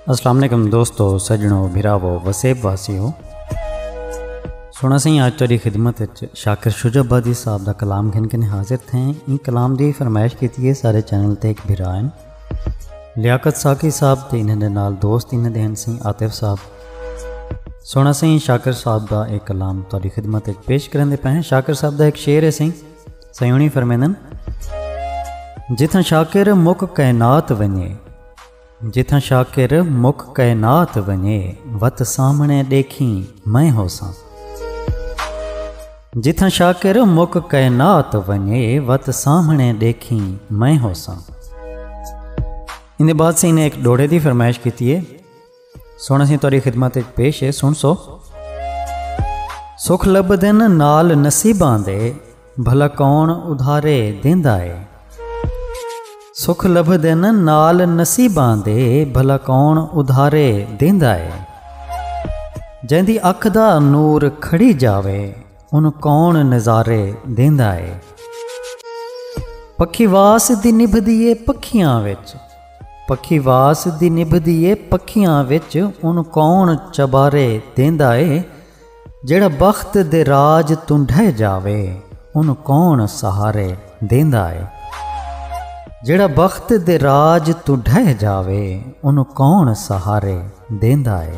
السلام علیکم دوستو سجنو بھراو وسیب واسی ہو سونا سائیں آج تاری خدمت شاکر شجہ آبادی صاحب دا کلام گھن کے حاضر تھے ان کلام دی فرمائش کی تھی سارے چینل تے ایک بھرا ہیں لیاقت ساقی صاحب تے انہیں دے نال دوست انہیں دے ہیں سائیں عاطف صاحب سونا سائیں شاکر صاحب دا ایک کلام تاری خدمت پیش کرن دے پہ ہیں شاکر صاحب دا ایک شعر ہے سائیں سیوݨی فرمیندن جتھاں شاکر مک کائنات ونجے جتھاں شاکر مک کائنات ونجے وت سامنے ݙیکھیں میں ہوساں جتھاں شاکر مک کائنات ونجے وت سامنے ڈیکھیں میں ہوساں ان بعد سے انہیں ایک ڈوڑے دی فرمائش کیتی ہے سن اسی تیری خدمت وچ پیش ہے سن سو سکھ لب دن نال نصیباں دے بھلا کون ادھارے دیندا ہے سکھ لب دن نال نصیباں دے بھلا کون ادھارے دیندا ہے جیندی اکھ دا نور کھڑی جاوے ان کون نظارے دیندا ہے پکھی واس دی نبھدی ہے پکھیاں وچ پکھی واس دی نبھدی اے پکھیاں وچ ان کون چبارے دیندا اے جیڑھا بخت دے راج توں ڈھہ جاوے ان کون سہارے دیندا اے جیڑھا بخت دے راج توں ڈھہ جاوے ان کون سہارے دیندا اے۔